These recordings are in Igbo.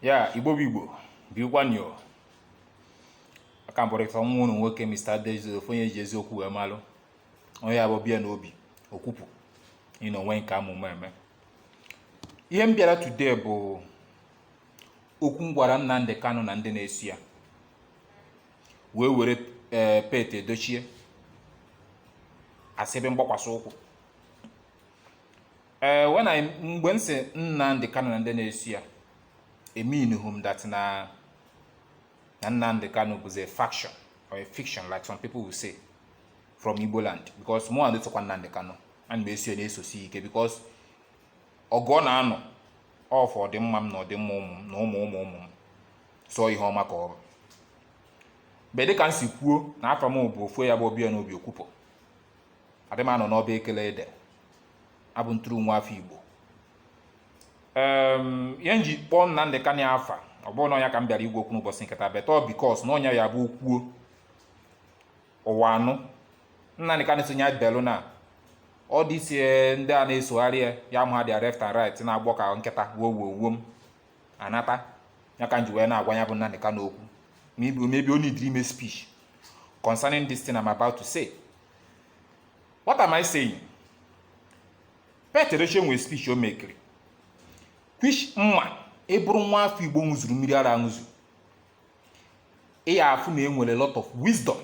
ya igbo bụ igbo bịakwanụ o aka m bụrịta nwa unu nwoke Mr. Adejobi ofu onye ji eziokwu wee malụ onye ya bụ ọbịa n'obi okwupụ ịna onwe nke amụma eme ihe m bịara today bụ okwu m gwara Nnamdi Kanu na ndị na-eso ya wee were ee pete edochie as ebe mgbakwasị ụkwụ ee when I mgbe m si Nnamdi Kanu na ndị na-eso ya eminuhu m that na na Nnamdi Kanu bụzi a faction or a fiction like some people will say from Igbo land because mụ and tụkwa Nnamdi Kanu ana m eso ya na-esosi ike because ọgụ ọ na-anụ ọ for ọdịmma m na ọdịmma ụmụ m na ụmụ ụmụ ụmụ m so ihe ọma ka ọ bụ but dịka m si kwuo na afa m bụ ofu ya bụ ọbịa n'obi okwupụ adị m anọ n'ọba ekele ede abụ m true nwa afọ igbo ihe m ji kpọọ Nnamdị Kanu afa ọ bụhụ na ọ ya ka m bịara ịgwa okwu n'ụbọchị nke taa but ọ because na onye ya bụ okwuo ụwa anụ Nnamdị Kanu sonye belu na ọ dịsie ndị a na-esogharị ya ya ma ha dị left and right na-agbọ ka nkịta wuo wuo wuo m anata ya ka m ji wee na-agwa ya bụ Nnamdi Kanu okwu maybe maybe o needịrị ime speech concerning this thing I'm about to say what am I saying Pete Edochie nwere speech o mekiri which m ma ị bụrụ nwa afọ Igbo ṅụzuru mmiri ara ṅụzu ị ya afụ na e nwere lot of wisdom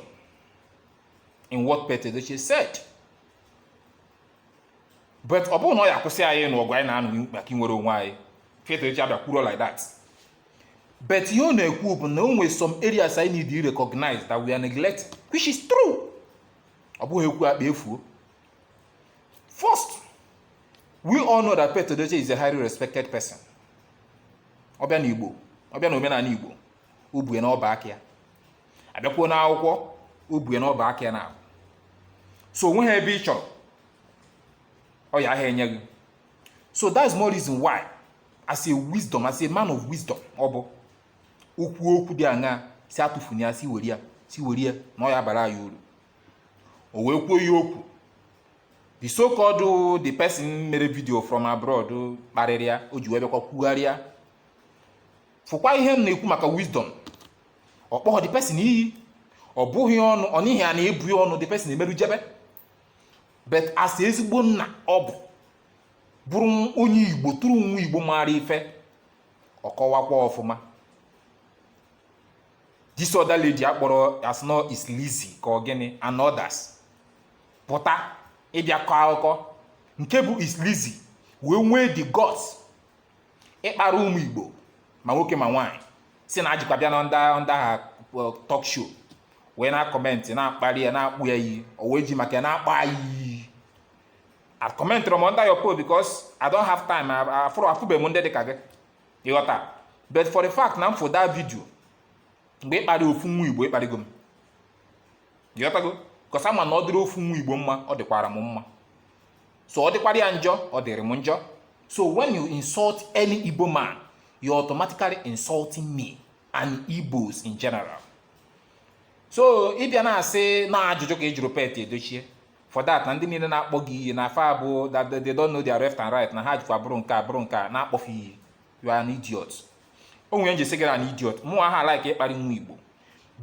in what Pete Edochie said but ọ bụhụ na ọ ya akwụsị anyị ịnụ ọgụ anyị na-anụ maka inwere onwe anyị Pete Edochie abịa kwuro like that but ihe ọ na-ekwu bụ na o nwere some areas anyị need to recognize that we are neglecting which is true ọ bụghị ekwu akpa efuo first we all know that Pete Edochie is a highly respected person ọbịa na igbo ọbịa na omenala igbo o bu ya na ọba aka ya abịakwuo na akwụkwọ o bu ya n'ọba aka ya naabọ so onweghị ebe ị chọrọ ọ yaha enye gị so that's more reason why as a wisdom as a man of wisdom ọ bụ okwu okwu dị aṅa si atụfuni ya si were ya si were ya na ọ ya abara ya uru o wee kwuo ya okwu the so called the person mere video from abroad kparịrị ya o ji wee bịakwa kwugharịa fụkwa ihe m na-ekwu maka wisdom ọ kpọghọ the person iyi ọ bụghị ọnụ ọ n'ihi a na-abụ ya ọnụ the person emerụ jebe but as ezigbo nna ọ bụ bụrụ onye igbo true nwa igbo maara ife ọ kọwakwa ọfụma this other lady akpọrọ as no is Lizzy ka ọ gịnị and others pụta ịbịa kọọ akụkọ nke bụ is Lizzy wee nwee the guts ịkpara ụmụ igbo ma nwoke ma nwaanyị si na ajikwa bịa na ndị ndị ha talk show wee na-acomment na-akparị ya na-akpọ ya iyi o wee ji maka ya na-akpọ ya iyi acommentirọ m under your post because I don't have time. Afụbe m ndị dịka gị, ịghọta. But for the fact na m fụ that video, mgbe ịkparị ofu nwa Igbo ịkparịgo m. ghọtago cos ama na ọ dịrị ofu nwa igbo mma ọ dịkwara m mma so ọ dịkwara ya njọ ọ dịrị m njọ so when you insult any igbo man you're automatically insulting me and igbos in general so ịbịa na-asị na ajụjụ ka ị jụrụ pete edochie for that na ndị niile na-akpọ gị iyi na afọ abụ that they don't know their left and right na ha jikwa bụrụ nke a bụrụ nke a na-akpọfe iyi you are an idiot o nwere ihe m ji sị gị you're an idiot mụ aha alike ịkparị nwa igbo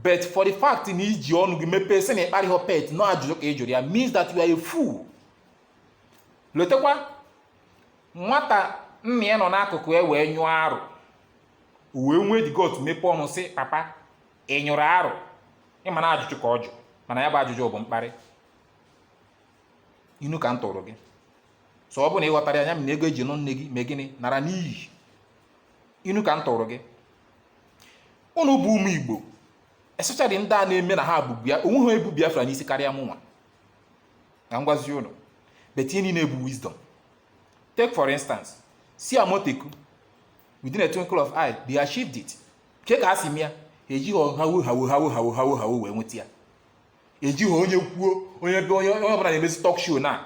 but for the fact na iji ọnụ gị mepee sị na ị kparịhọ pete na ajụjụ ka ị jụrụ ya means that you are a fool lotekwa nwata nna ya nọ n'akụkụ ya wee nyụọ arụ o wee nwee the gut mepee ọnụ sị papa ị nyụrụ arụ ịma na ajụjụ ka ọ jụ mana ya bụ ajụjụ bụ mkparị inu ka m tụrụ gị so ọ bụ na ị ghọtarọ ya nya m na ego eji nụ nne gị mee gịnị nara n'iyi inu ka m tụrụ gị ụnụ bụ ụmụ igbo especially ndị a na-eme na ha bụ bịa onwe ha ebu biafra n'isi karịa mụ nwa na-agwazi ụnụ but ihe niile bụ wisdom take for instance see amotekun within a twinkle of eye they achieved it ke ka a si mee ya ejihọ hawo hawo hawo hawo hawo hawo wee nweta ya ejihọ onye kwuo onye be onye onye ọbụla na-emezi talk show na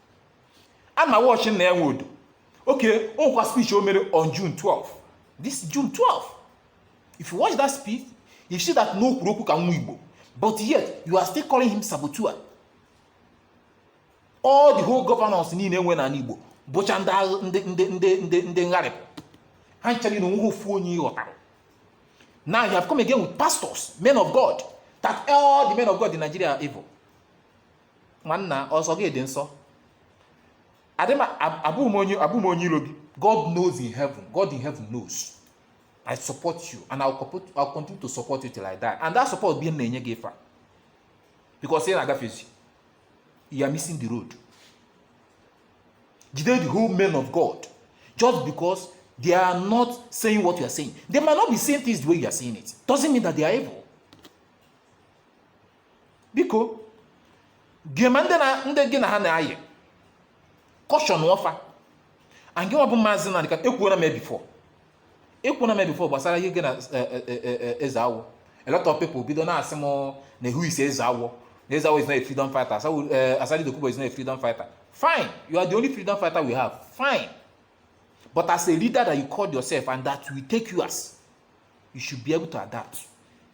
a na m awatch nnia nwodo okay o nwekwa speech o mere on june 12 this june 12 if you watch that speech you see that na o kwuru okwu ka nwa igbo but yet you are still calling him saboteur all the whole governors niile enwe n'ala igbo bụcha ndị agha- ndị ndị ndị ndị ndị ngharịpụ ha ncha na onweghị ofu onye ịghọtara now you have come again with pastors men of god that all the men of god in nigeria are evil nwanna ọsọ gị dị nsọ abụghị m onye iro gị god knows in heaven god in heaven knows i support you and i'll, I'll continue to support you till i die and that support bi na-enye gị ife because ị na-agafezi you are missing the road jide the whole men of god just because they are not saying what you are saying they might not be saying things the way you are saying it doesn't mean that they are evil biko gị ma ndị na ndị gị na ha na-ayị cautionụọ fa and gị nwa bụ maazị nnamdi kanu ekwuola m ya before ekwuola m ya before gbasara ihe gị na eh, eh, eh, eh, eh, eze awọ a lot of people bido na-asị m na eh who is eze awọ na eze awọ is not a freedom fighter Asawu- eh, asari dokubo is not a freedom fighter fine you are the only freedom fighter we have fine but as a leader that you called yourself and that we take you as you should be able to adapt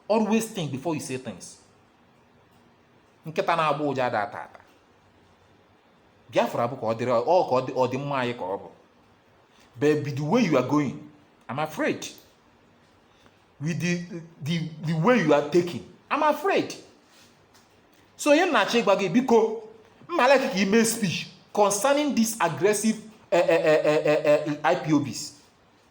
always think before you say things nkịta na-agba ụja ada ata ata biafra bụ ka ọ dịrị ọ ka ọdịmma anyị ka ọ bụ but with the way you are going i'm afraid with the the the way you are taking i'm afraid so ihe m na-achọ ịgwa gị biko mala ka ime speech concerning this aggressive uh, uh, uh, uh, uh, IPOBs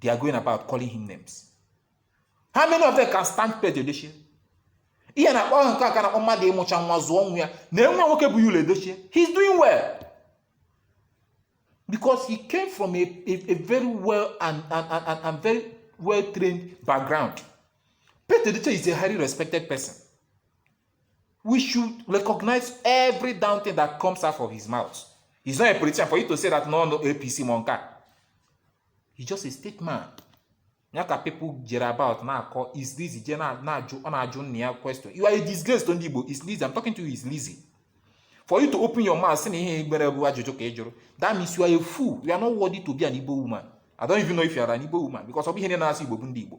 they are going about calling him names how many of them can stand Pete Edochie ihe na-akpọ ahụ nke a ka na-akpọ mmadụ ịmụcha nwa zụọ nwa ya na nwa ya nwoke bụ yul edochie he's doing well because he came from a, a, a very well and, and, and, and, and very well trained background Pete Edochie is a highly respected person we should recognize every damn thing that comes out of his mouth. He's not a politician for you to say that no, no APC monka. He's just a statesman. Ya ka people jere about na-akọ is Lizzy je na-ajụ ọ na-ajụ nna ya question. You are a disgrace to ndị Igbo. Is Lizzy. I'm talking to you is Lizzy. For you to open your mouth sị na ihe igbere bụ ajụjụ ka ị jụrụ. That means you are a fool. You are not worthy to be an Igbo woman. I don't even know if you are an Igbo woman because ọ bụghị ha na-asụ Igbo bụ ndị Igbo.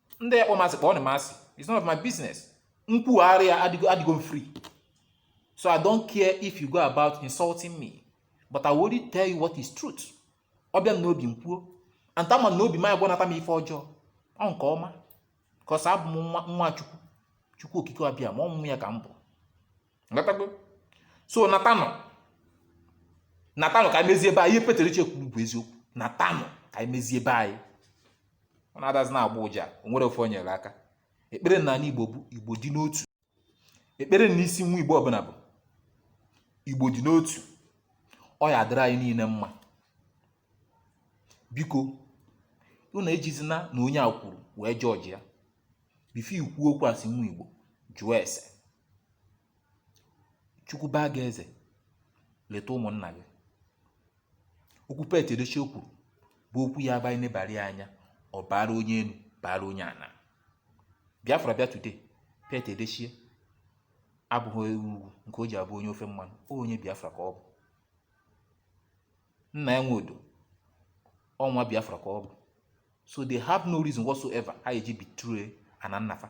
ndị ya kpọ m asị kpọọnụ m asị it's none of my business nkwugharị ya adịgo adịgo m free so i don't care if you go about insulting me but i will only tell you what is truth ọ bịa m n'obi m kwuo and ama m na obi m aya agwanata m ife ọjọọ ọ nke ọma because abụ m nwa nwa chukwu chukwu okike abịama ọmụmụ ya ka m bụ natago so natanụ natanụ ka anyị mezie ebe anyị pete edochie kwuru bụ eziokwu natanụ ka anyị mezie ebe anyị ọ na-adazi na-agba ụja o nwere ife o nyere aka ekpere na anyị igbo bụ igbo dị n'otu ekpere na isi nwa igbo ọbụla bụ igbo dị n'otu ọ ya adịrị anyị niile mma biko unu ejizina na onye a kwuru wee judge ya before ikwu okwu asị nwa igbo jụọ ese chukwu baa gị eze leta ụmụnna gị okwu pete edochie kwuru bụ okwu ya abụ e nebara ya anya ọ baara onye enu baara onye ana biafra bịa today pete edochie abụghị ugwu nke o ji abụ onye ofe mmanụ o onye biafra ka ọ bụ nnia nwodo ọ nwa biafra ka ọ bụ so they have no reason whatsoever ha ya-eji betray ana nna fa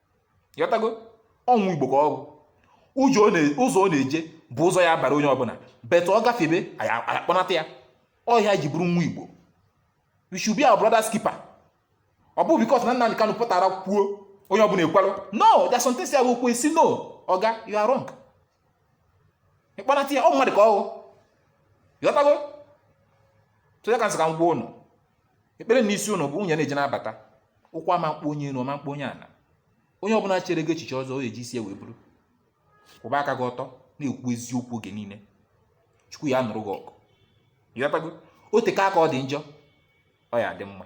ị ghọtago ọ nwa igbo ka ọ bụ ụzọ ọ na-eje bụ ụzọ ya-abara onye ọbụla but ọ gafebe a ya-akpọnata ya ọ ihe anyị ji bụrụ nwa igbo we should be our brother's keeper ọ bụ because na Nnamdi Kanu pụtara kwuo onye ọbụla ekwarụ no there's some things ya abụ o kwuo a sị no oga you are wrong ịkpọnata ya ọ mmadụ ka ọ bụ ịghọtago sọ ya ka m sị ka m gwa ụnụ ekpere n'isi ụnụ bụ ụnụ ya na-eje na-abata ụkwụ ama mkpọ onye enu ọ ma mkpọ onye ana onye ọbụna chere gị echiche ọjọọ ọ ya-eji isi ya wee buru kwụba aka gị ọtọ na-ekwu eziokwu oge niile chukwu ya-anụrụ gị ọgụ ịghọtago o teka aka ọ dị njọ ọ ya-adị mma